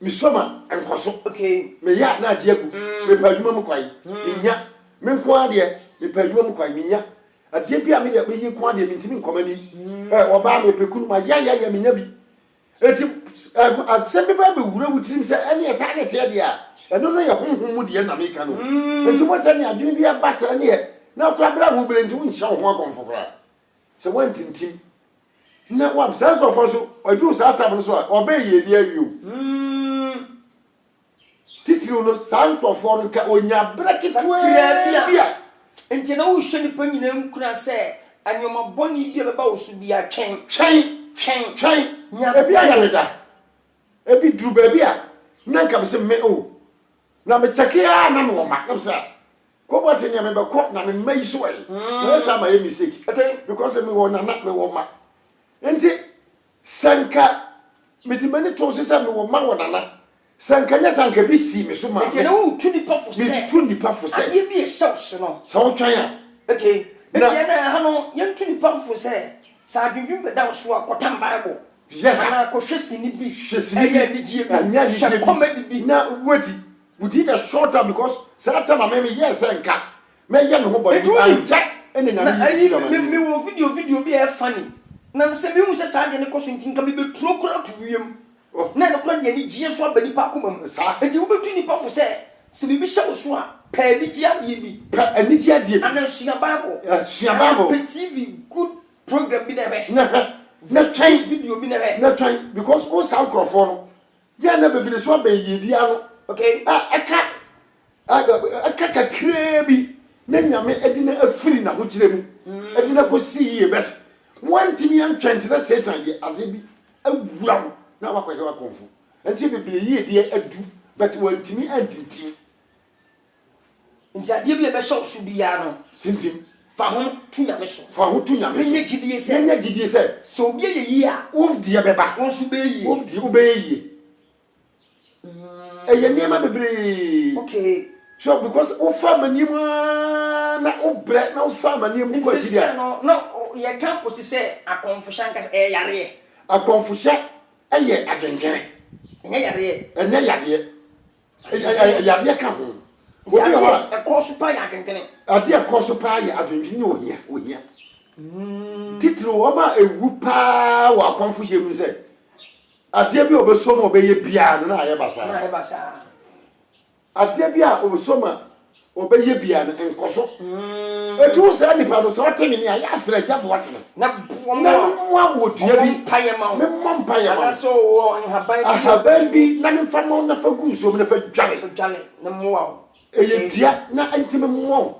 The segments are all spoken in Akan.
Mesua ma nkɔ so. Meyɛ a na agye agu. Mepɛ adwuma mu kwan, mennya. Me nko ara deɛ, mepɛ adwuma mu kwan, mennya. Adeɛ bi a me deɛ mɛyɛ nko ara deɛ, mentumi nkɔ m'anim. Eh, ɔbaa, mepɛ kunu, mayɛ ayɛ ayɛ, mennya bi. Enti, eh, asɛm bi ba bɛwura wo tirim sɛ, ɛneɛ saa na ɛteɛ deɛ a, ɛno no yɛ honhom mu deɛ na meka no o. Enti wobɛhu sɛ neɛ adwene bi ba saa neɛ, na koraa berɛ a wobrɛ nti wonhyɛ wo ho akɔmfo koraa. Sɛ woantintim na woam saa nkurɔfoɔ no so, wɔaduru saa tam no so a, wɔbɛyɛ yiedie awie o. Hmm. Titiriw no, saa nkurɔfoɔ no nka wɔnya berɛ ketewaa bi a. Enti na wohyɛ nnipa nyinaa nkuran sɛ, Nneɛma bɔne bi a ɛbɛba wo so biara, twɛn. Twɛn. Twɛn. Twɛn. Nya berɛ. Ebi ayɛ me da. Ebi duru baabi a, na anka mese me o, Na me kyɛke ara na mewɔ ma na me sɛ kɔbɔ te nea mebɛkɔ na me mma yi so ɛ na yɛ saa ma yɛ mistake because mewɔ nana mewɔ ma nti sɛ nka mede m'ani to se sɛ mewɔ ma wɔ nana sɛ nka nyɛ sɛ nka bi sii me so maa me ɛna wotu nipa fo sɛ metu nipa fo sɛ adeɛ bi ɛhyɛ wo so no sɛ wotwɛn a okay ɛti ɛna ha no yɛntu nipa fo sɛ sɛ adwendwen bɛda wo so a kɔtam bible Yes sir. Kɔ hwɛ sini bi. Hwɛ sini bi. Ɛyɛ anigyeɛ bi. Ɛnyɛ anigyeɛ bi. Hwɛ comedy bi. Na wait within a short time because saa time a mɛmɛ yɛ sɛ nka mɛyɛ me ho bɔne bi ankyɛ ɛna nyame yi bi firi amane mu. Me wɔ video video bi a ɛyɛ funny na sɛ mehu sɛ saa deɛ no kɔ so nti nka mebɛturo koraa to wiem na ɛno koraa de anigyeɛ so aba nipa akoma mu. Saa. Nti wobɛtu nipa fo sɛ sɛ biribi hyɛ wo so a pɛ anigyeɛ adeɛ bi. Pɛ anigyeɛ adeɛ bi. Anaa sua bible. Sua bible. Anaa pɛ TV good program bi na ɛhwɛ. Na hwɛ. Na twɛn. Video bi na hwɛ. Na twɛn because wo saa nkurɔfoɔ no yɛ na bebere so abɛn yiedie ano. Okay. A ɛka ɛka kakraa bi na nyame ɛde na afiri n'ahokyerɛ mu ɛde na kɔ si yie bɛt wɔntumi antwɛn nti na satan de adeɛ bi awura wo na wakɔyɛ wakɔnfo nso bebere yiedie adu bɛt wɔntumi antintim Nti adeɛ bi a ɛbɛhyɛ wo so biara no. Tintim. Fa ho to Nyame so. Fa ho to Nyame so. Na nya gyidie sɛ. Na nya gyidie sɛ. Sɛ obi ayɛ yie a. Wo deɛ bɛba. Wo nso bɛyɛ yie. Wo deɛ wobɛyɛ yie. Ɛyɛ nneɛma bebree. Okay. So because wofa amaneɛ mu ara na wobrɛ na wofa amaneɛ mu kɔ akyiri a. Nsesɛ no na yɛka kɔsi sɛ akɔmfohyɛ ankasa ɛyɛ yareɛ. Akɔmfohyɛ yɛ adwendwene. Ɛnyɛ yareɛ. Ɛnyɛ yadeɛ. Yadeɛ ka ho. Yadeɛ ɛkɔɔ so paa yɛ adwendwene. Adeɛ ɛkɔɔ so paa yɛ adwendwene ne ohia ohia. Hmm. Titiri wɔn a ewu paa wɔ akɔnfo hyɛ mu sɛ adeɛ bi a ɔbɛsɔ mu ɔbɛyɛ biara no na ayɛ basaa. Na ayɛ basaa. Adeɛ bi a ɔbɛsɔ mu a Ɔbɛyɛ bia no nkɔso. Ɛti wo saa nipa no sɛ ɔte me nia yɛ afrɛ gya boa tene. Na boa ma wɔn. Na moa wɔ dua bi. Ɔmɔ mpa yɛ ma wɔn. Me mɔ mpa yɛ ma wɔn. Anasɛ ɔwɔ nhaban bi. Ahaban bi na me mfa ma wɔn na fa gu nsuo mu na fa dware. Fa dware na moa wɔn. Ɛyɛ dua na nti me mɔ wɔn.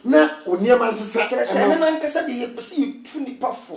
Na wɔn nneɛma nsesa. Kyerɛ sɛ ɛno no ankasa deɛ yɛpɛ sɛ yɛtu nipa fo.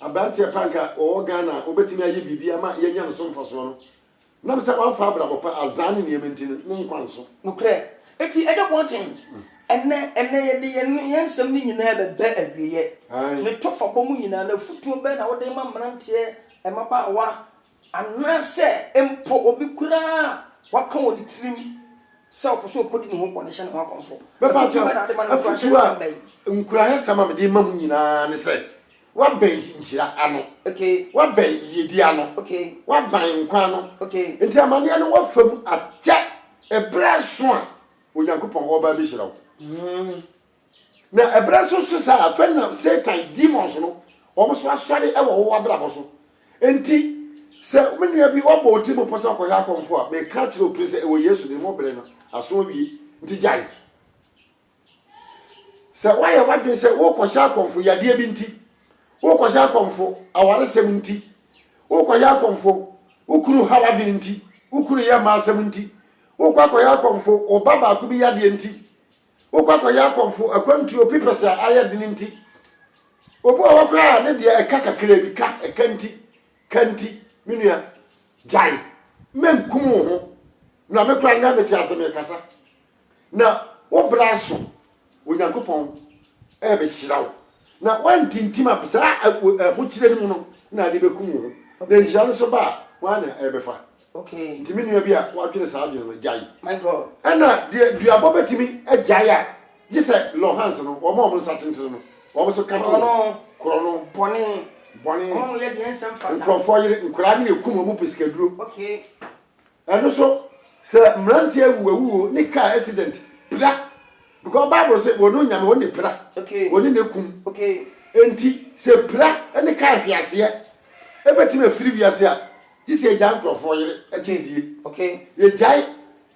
Aberanteɛ pa a nka ɔwɔ Ghana a ɔbɛtumi ayɛ biribi ama yɛanya ne so mfasoɔ no, nam sɛ wamfa abrabɔ pa, azaa ne nneɛma nti no, ne nkwa nso. Nokorɛ. Enti ɛnyɛ kɔnten. Ɛnnɛ, ɛnnɛ yɛde yɛn, yɛn nsɛm no nyinaa bɛba awieɛ. Aane. Ne tɔfabɔ mu nyinaa no, afotuo bɛn na wode rema mmeranteɛ, mmabaawa, Anaasɛ mpo obi koraa a waka wɔ ne tirim sɛ ɔpɛ sɛ ɔkɔdi ne ho bɔne hyɛ ne ho akɔmfo. Afotu bɛn na wode ma no? Nkuranhyɛ nsɛm bɛn? Nkuranhyɛ nsɛm a mede rema mo nyinaa ne sɛ, Woabɛn nhyira ano. Woabɛn yiyedi ano. Woabɛn nkwa ano. Enti amanneɛ no woafa mu akyɛ. Bere aso a Onyankopɔn ɔreba abehyira wo. Na ɛberɛ nso so saa ara, afei na Satan demons no, wɔn nso asɔre wɔ wo abrabɔ so. Enti, sɛ me nua bi wabɔ wo tirim mpo sɛ ɔkɔhwɛ akɔmfoɔ a, meka akyerɛ wo pere sɛ ɛwɔ Yesu din mu, wo bere no aso awie, nti gyae. Sɛ woayɛ w'adwene sɛ worekɔhyɛ akɔmfo yadeɛ bi nti, worekɔhyɛ akɔmfo awaresɛm nti, worekɔhyɛ akɔmfo wo kunu haw adwene nti, wo kunu yɛ mma asɛm nti, worekɔ akɔhyɛ akɔmfo wo ba baako bi yadeɛ nti, Wokɔ akɔyɛ akɔmfo akwantuo pepɛs a ayɛ den nti, obi wɔ hɔ koraa a ne deɛ ɛka kakraa bi, ka, ɛka nti, ka nti, me nua, gyae, mɛnkum wo ho, na me koraa nnɛ mete ase mekasa, na wo bra so, Onyankopɔn ɛrebɛhyira wo, na woantintim a saa ahokyerɛ no mu no na ade bɛkum wo ho, na nhyira no nso ba a, hwan na ɛrebɛfa? Okay. Nti me nua bi a wadwene saa adwene no, gyae. My God. Ɛna deɛ duabɔ bɛtumi agyae a, gye sɛ Lorhans no, wɔn a wɔn nsa tentene no, wɔn nso ka to wɔn. Korɔno. Korɔno. Bɔne. Bɔne. Wɔn a wɔyɛ deɛ ɛnsɛ mfata. Nkurɔfoɔ yere nkoraa ne ekum wɔn pɛ sikaduro. Okay. Ɛno so, sɛ mmeranteɛ wu awuo ne kaa accident, pira. Because Bible se wɔn onyame wɔn ne pira. Okay. Wɔn ne ne kum. Okay. Enti sɛ pira ne kaa hweaseɛ ɛbɛtumi afiri wiase a, Gye sɛ yɛgyae nkurɔfoɔ yere kyɛn die. Okay. Yɛgyae.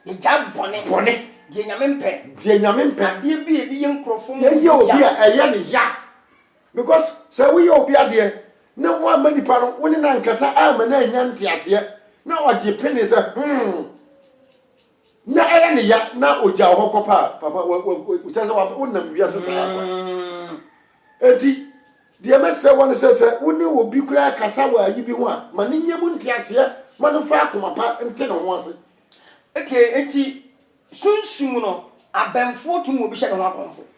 Yɛgyae bɔne. Bɔne. Deɛ Nyame mpɛ. Deɛ Nyame mpɛ. Adeɛ bi a yɛde yɛ nkurɔfoɔ ma wɔdi ya. Yɛyɛ obi a ɛyɛ no ya. Because sɛ woyɛ obi adeɛ na woamma nipa no, wo ne no ankasa amma no annya nteaseɛ na ɔgye pene sɛ hmm. Na ɛyɛ ne ya na ogya hɔ kɔ paa papa wa wa kyɛ sɛ wonam wiase saa kwa mm. eti deɛ mɛsrɛ wɔ no sɛ sɛ wo ne obi koraa kasa wɔ ayi bi ho a ma ne nyɛ mu nteaseɛ ma no fa akoma pa nte ne ho ase okay eti sunsum no abɛmfo tum obi hyɛ ne ho akɔmfo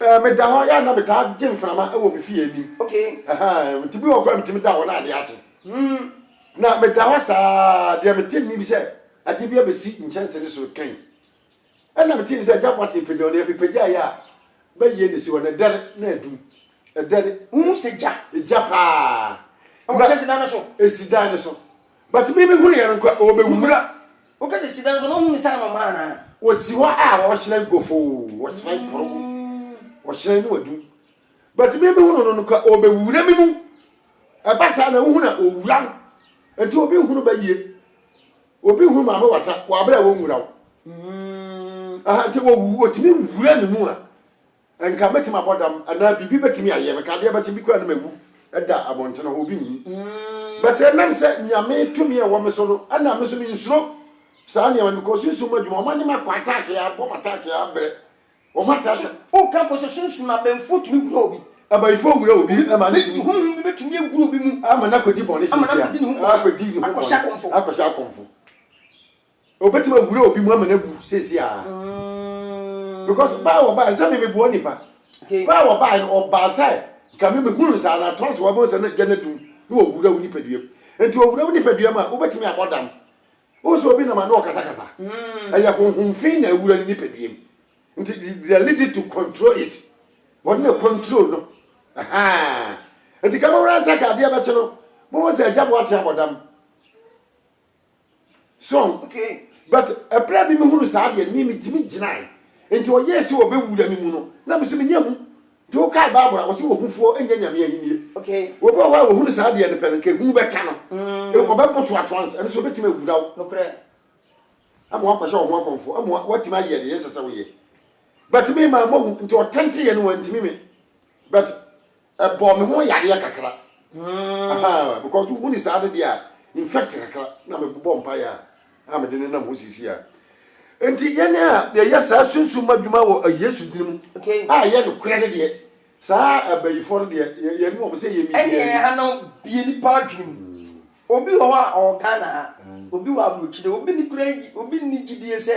Eh, meda hɔ, yɛ a na metaa gye mframa wɔ me fie anim. Okay. Ahaa, nti bi wɔ hɔ koraa a metumi da hɔ na adeɛ akye. Hmm. Na meda hɔ saa ara, deɛ mete nne bi sɛ adeɛ bi abɛsi nkyɛnse no soro kɛn. Ɛnna metee nne sɛ, Agya Boateng, pagya wo nan. Mepagyaeɛ a, bɛyɛ na ɛsi hɔ no, ɛdɛre na adum. Ɛdɛre. Wohu sɛ gya? Gya paa. Ɛwɔ nkyɛnsedan no so? Ɛsi dan no so. But me mehunuiɛ no nko a, ɔbɛwura. Woka sɛ sida nso no ho nsa no ma anaa? Wɔsi hɔ a wɔhyerɛn gofoo, wɔhyerɛn poro, wɔhyerɛn no adum. But me me hunu no no ka ɔbɛwura me mu. Ɛba saa na wohunu a ɔwura wo. Nti obi nhunu ba yie. Obi nhunu maame wata wɔ aberɛ a wɔnwura wo. Aha nti wɔtumi wura ne mu a. Anka mɛtumi abɔ dam anaa biribi bɛtumi ayɛ me ka adeɛ bɛkye bi koraa na mawu da abɔnten hɔ obi nhu but ɛnam sɛ nyame tumi ɛwɔ me so no ɛna me so me nsuro saa nneɛma no because sunsum mu adwuma wɔn anim akɔ attack yɛ abɔ wɔn attack yɛ abrɛ wɔn attack o ka mpo sɛ sunsum abɛnfo tumi wura obi abayifo wura obi ɛma ne tumi honhom bi bɛtumi awura obi mu ama no akɔdi bɔne sɛsia akɔdi ne ho bɔne akɔhyɛ akɔmfo Obetumi awura obi mu ama no abu seesei ara. Because baa a ɔbae no, sɛ me meboa onipa. Baa a ɔbae no, ɔbaa sɛ nka me mehunu nsa na atoa so wabɔ nsa na gya no adum na wawura wo nipaduam. Enti ɔwura wo nipaduam a, wobetumi abɔ dam. Wohu sɛ obi nam a na ɔkasakasa. Ɛyɛ honhom fi na awura ne nipaduam. Nti the lady to control it. Wɔde na control no. Ahaa. Enti ka mo ransack adeɛ bɛkye no, mohu sɛ agya boa tea bɔ dam. so okay but ɛberɛ a mimi hunu saa deɛ mimi tumi gyinae nti ɔyɛɛ sɛ ɔbɛwura me mu no na me so menyɛ hu nti wokae bible a wɔsɛ wɔhufoɔ nyɛ nyame ahennie okay obi wɔ hɔ a wɔhunu saa deɛ no pɛ no nka hu bɛka no mm. ɔbɛpo to ato ansa ɛno so ɔbɛtumi awura wo nokorɛ ama wakɔhyɛ ɔho akɔmfo ama watumi ayɛ deɛ yɛsɛ sɛ woyɛ but me ma mahu nti ɔtɛnteyɛ no wantumi me but Ɛbɔɔ me ho yadeɛ kakra ahaa because wo ni saa no deɛ a infect kakra na me bɔ mpaeɛ a a mede nenam ho sisi a nti yɛn a yɛyɛ saa sunsum ma dwuma wɔ Yesu din mu a yɛ no korɛ no deɛ saa abayifoɔ no deɛ yɛn ne wɔn sɛ yɛ mi deɛ ɛne ɛha no bie nipa adwene mu obi wɔ hɔ a ɔwɔ Ghana ha obi wɔ abrokyire obi ni kura obi ni gyidie sɛ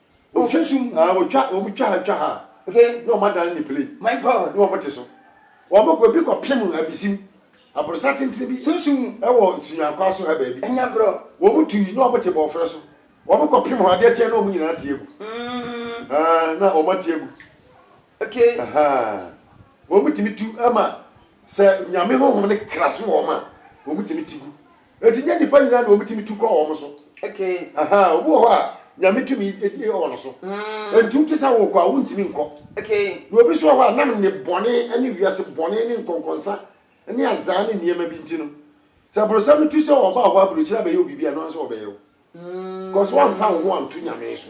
Ɔfasu mu. Ah wɔtwa wɔn twa ha twa ha a. Okay. Na wɔn adan ne plane. My God. Na wɔn te so. Wɔn kɔ ebi kɔ pem abisim. Aborosan tenten bi. Sunsum mu. Ɛwɔ nsunyaankwa so ha baabi. Ɛnyɛ agorɔ. Wɔn tui na wɔn te bɔɔfrɛ so. Wɔn kɔ pem hɔ adeɛ kye na wɔn nyinaa te agu. Mm. Ah na wɔn ate agu. Okay. Ahaa. Wɔn tumi tu ma sɛ nyame honhom no kra so wɔn a wɔn tumi te gu. Enti nyɛ nnipa nyinaa na wɔtumi tu kɔ wɔn so. Obi wɔ hɔ a, Nyame tumi wɔ no so. Enti wote sɛ wokɔ a, wontumi nkɔ. Na obi nso wɔ hɔ a, nam nnebɔne ne wiase bɔne ne nkɔnkɔnsa ne azaa ne nneɛma bi nti no, sɛ brosam no tu sɛ ɔba hɔ aburokyire abɛyɛ wo biribi a, ɛno ara nso ɔbɛyɛ wo. Because woamfa wo ho anto Nyame so.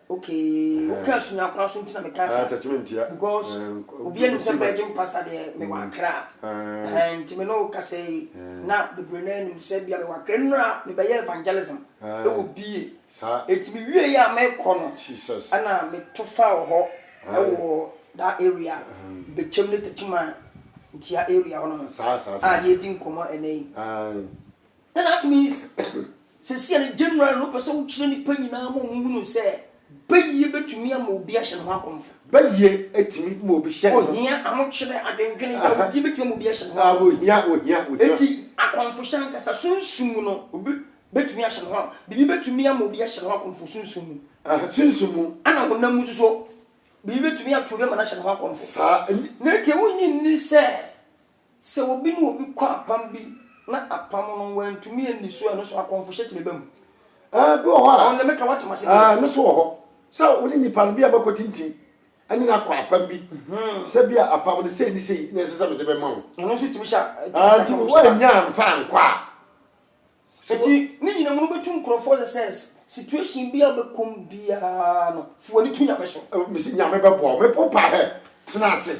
Okay wo kaa sumia kwan so nti na me kaa saa. Attachment ya. Because obi anim sɛ virgin pastor deɛ me wɔ akra. Ɛhɛn nti me ne wo kasa yi na bebree naa nim sɛ bia me wɔ akra nnura me bɛyɛ evangelism ɛwɔ bie. Saa. Eti me wie yɛ a me kɔ no. Jesus. Ɛna me to faa wɔ hɔ ɛwɔ that area bekyem ne takyiman ntia area hɔ nom. Saa saa saa. A yɛredi nkɔmɔ ɛnɛ yi. Ae. Dɛn na atumi yi seesei a ne Gyanaral no pɛ sɛ ɔkyerɛ nnipa nyinaa ma wɔhunu no sɛ bayie bɛtumi ama obi ahyɛ ne ho akɔmfo? Bayie tumi ma obi hyɛ ne ho. Ohia ahokyerɛ, adwendwene, yamudeɛ bɛtumi ama obi ahyɛ ne ho akɔmfo. Ohia, ohia, ohia. Enti akɔmfohyɛ ankasa, sunsum mu no, obi bɛtumi ahyɛ ne ho akɔmfo. Biribi bɛtumi ama obi ahyɛ ne ho akɔmfo sunsum mu. Aha, sunsum mu. Ɛna honam mu nso so, biribi bɛtumi ato obi ama no ahyɛ ne ho akɔmfo. Saa. Na enti wonnye nni sɛ Sɛ obi ne obi kɔ apam bi na apam no wɔantumi anni so a, ɛno nso akɔmfohyɛ tumi ba mu. Ɛɛ, bi wɔ hɔ a. Ɔn deɛ meka woatom ase deɛ. Ɛɛ, ɛno nso wɔ hɔ. Sɛ wo ne nipa no, bi a moakɔtintim ne no akɔ apam bi, sɛ bi a apam no sei ne sei na ɛsɛ sɛ mede bɛma wo. Ɛno nso tumi hyɛ a, tumi de akɔmfohyɛ ba. Ɛɛ, nti woannya amfa ankɔ a. Nti, ne nyina mu no, wobɛtu nkurɔfoɔ sɛ sɛ situation bi a wobɛkɔ mu biara no, fa w'ani to Nyame so. Mese Nyame bɛboa wo. Mepɛ wo paa hɛ, tena ase.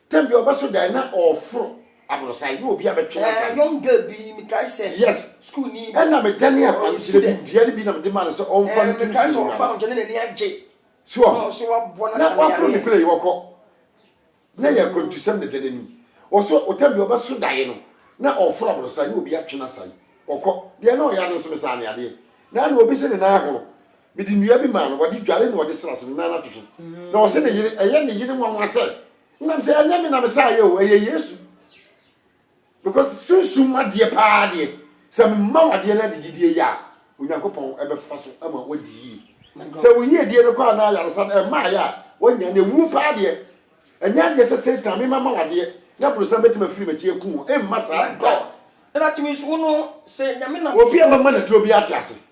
Tam bi a ɔbɛso dan na ɔɔforo aborosan na obi abɛtwe n'asan. Eh, young girl bi mekae sɛ. Yes. School ni. Ɛna medane akwankyerɛ bi dua no bi na mede maa no sɛ ɔmfa nto nsuo mu. Mekae sɛ ɔba no nkyɛn na n'ani agye. So ɔho. Ɔsɛ waboa n'asan yare. Na waforo ne kura yi wɔkɔ. Na yɛ akwantusɛm na dua no ani. Ɔsɛ ɔtam bi ɔbɛso daeɛ no na ɔɔforo aborosan na obi atwe n'asan. Ɔkɔ. Deɛ na ɔyare no nso mesaa no yadeɛ. Na na obi se ne nan ahono. Mede nnua bi maa no, wɔde dware na wɔde sra so, ne nan ase so. Na ɔse ne yere, ɛyɛ ne yere nwanwa sɛ, nam sɛ ɛnyɛ me na mesaeɛ o, ɛyɛ Yesu. Because sunsum adeɛ paa deɛ, sɛ mema wo adeɛ na de gyidie yɛ a, Onyankopɔn bɛfa so ama woadi yie. Sɛ wo yiedie no kɔ anaa ayaresa no mmaeɛ a, woanya no. Ɛwuo paa deɛ, ɛnyɛ adeɛ sɛ Satan mema ma wo adeɛ na brosam bɛtumi afiri m'akyi aku wo. Ɛmma saa, God. Obi a mama no aduro biara te ase.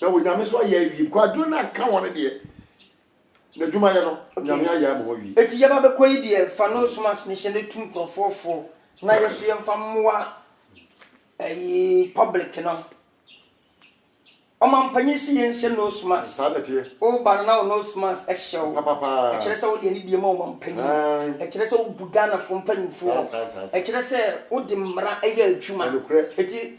Na Onyame so ayɛ awie. Bcause adwene no anka wɔn deɛ. N'adwumayɛ no, Onyame ayɛ ama wɔn awie. Enti yɛba bɛkɔ yi deɛ, fa nose mask no hyɛ na tu nkorɔfoɔ fo na yɛ nso yɛmfa mmoa ɛyi public no. Ɔmanpanyin se yɛnhyɛ nose mask. Saa na ɛteɛ. Woba no na wo nose mask hyɛ wo. Papapaa. Ɛkyerɛ sɛ wode anidie ma ɔmanpanyin. Aane. Ɛkyerɛ sɛ wobu Ghanafoɔ mpanyinfoɔ. Saa saa saa saa. Ɛkyerɛ sɛ wode mmara yɛ adwuma. Ɛnokorɛ. Eti.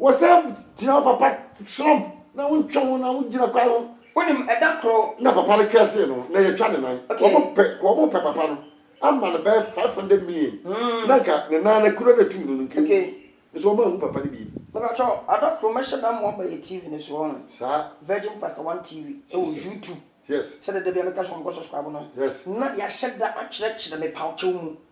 Wɔsan gyina hɔ papa trɔmp na wontwa ho na wogyina kwan ho. Wonim ɛda koro. Na papa no twɛɛ see no na yɛtwa ne nan. Okay. Wɔn pɛ wɔn pɛ papa no ama no bɛyɛ five hundred million. Mm. Na nka ne nan no kuro na etum no no nka okay. Nso wɔn ahu papa no bi. Baba kyɔ ada koro mɛhyɛ da mo aba yɛ TV no so wɔn. Saa. Virgin Pastor One TV ɛwɔ YouTube. Yes. Sɛ dɛdɛ bi a mɛka so wɔn kɔ subscribe no. Yes. Na yɛahyɛ da akyerɛkyerɛ me paw kyɛw mu.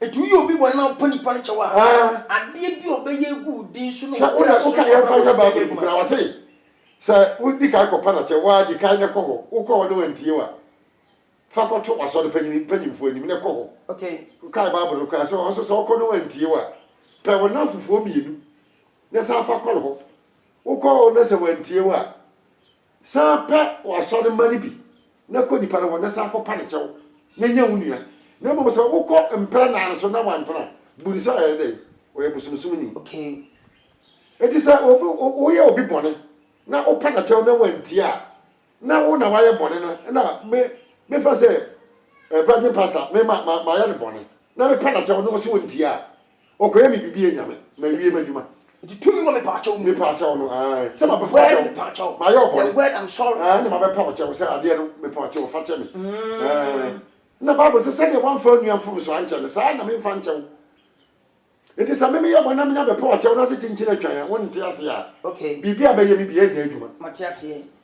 Enti woyɛ obi bɔne na wopɛ nipa no kyɛw a, adeɛ bi a ɔbɛyɛ agu wo din so no Hwɛ wokura wona so woka yɛmfa nhwɛ Bible no mu koraa wɔse sɛ wodi kan kɔpa no kyɛ waa di kan na kɔ hɔ wokɔ hɔ na wantie wo a fa kɔto w'asɔre panyin mpanyimfoɔ anim na kɔ hɔ Okay. wokae Bible no koraa sɛ ɔhɔ so sɛ wokɔ na wantie wo a pɛ wo nnamfofoɔ mmienu na san fa kɔ hɔ wokɔ hɔ na sɛ wantie wo a San pɛ w'asɔre mma no bi na kɔ nnipa no hɔ na san kɔpa no kyɛw na nya wo nua. Na mmom sɛ wokɔ mprɛnaa no so na wampene a, bu no sɛ ɔyɛ dɛn? Ɔyɛ bosomsomni. Okay. Enti sɛ obi, woyɛ obi bɔne na wopa no kyɛw na wantie a, na wo na woayɛ bɔne no na me, mefa sɛ eh, Virgin Pastor, me ma, ma, mayɛ no bɔne na mepa no kyɛw na ɔse ɔntie a, Ɔkɔyɛ me biribi yɛ nyame ma wie m'adwuma. Nti tumi wɔ me paakyɛw mu. Me paakyɛw no ae. Sɛ ma bɛfa ɔkyɛw. Me paakyɛw. Ma yɛ ɔbɔne. The word I'm sorry. Ae na ma bɛpa ɔkyɛw sɛ adeɛ no me paakyɛw fa kyɛ me. Mm. Ae. Na Bible sɛ sɛdeɛ wamfa onua mfomso ankyɛ no saa na memfa nkyɛ wo. Nti sɛ me meyɛ bɔne na menya bɛpa ɔkyɛw na se kyinkyin atwan a wonte aseɛ a. Okay. Biribi a bɛyɛ me biaa nnya adwuma. Mate aseɛ.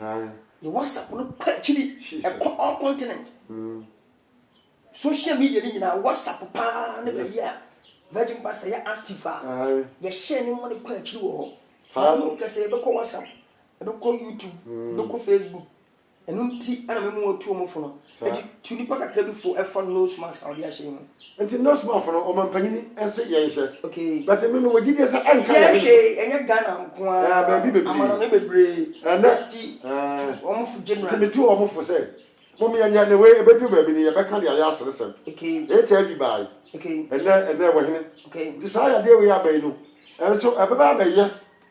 Aye. Yɛ WhatsApp no kɔ akyiri, ɛkɔ all continent. Social media no nyinaa, WhatsApp paa ne baayi a Virgin Pastor yɛ active a yɛhyɛ ne mma no kɔ akyiri wɔ hɔ. Saa no. Hwɛ sɛ yɛbɛkɔ WhatsApp, yɛbɛkɔ YouTube, yɛbɛkɔ Facebook. Ɛno nti na mema wɔtu wɔn fo no. Eti tu nipa kakra bi fo ɛfa nose mask a ɔde ahyɛ yi ho. Nti nose mask no ɔmanpanyin se yɛn hyɛ. Okay. But me me wɔ gyidie sɛ ɛnka yɛn ne so. Yɛn hwɛ ɛnyɛ Ghana nko ara. Ɛɛ baabi bebree. Amanɔne bebree. Ɛnɛ. Eti tu wɔn fo generally. Nti me tu wɔn fo sɛ mom yɛn yɛ ne wei ebeduru baabi no yɛbɛka de ayɛ aseresɛm. Okay. HIV baae. Okay. Ɛnɛ ɛnɛ ɛwɔ hene. Okay. Nti saa yadeɛ wei aba yi no ɛnso ɛbɛba abɛyɛ.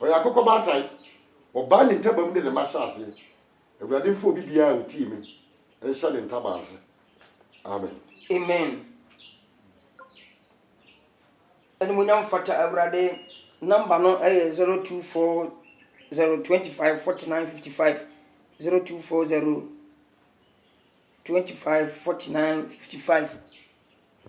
Ɔyɛ akokɔ baatan. Ɔbaa ne ntaban de ne mma hyɛɛ aseɛ. Awurade mfa obi biara a ɔtie me nhyɛ ne ntaban ase. Amen. Amen Animuonyam fata Awurade Number no yɛ 0240254955 0240254955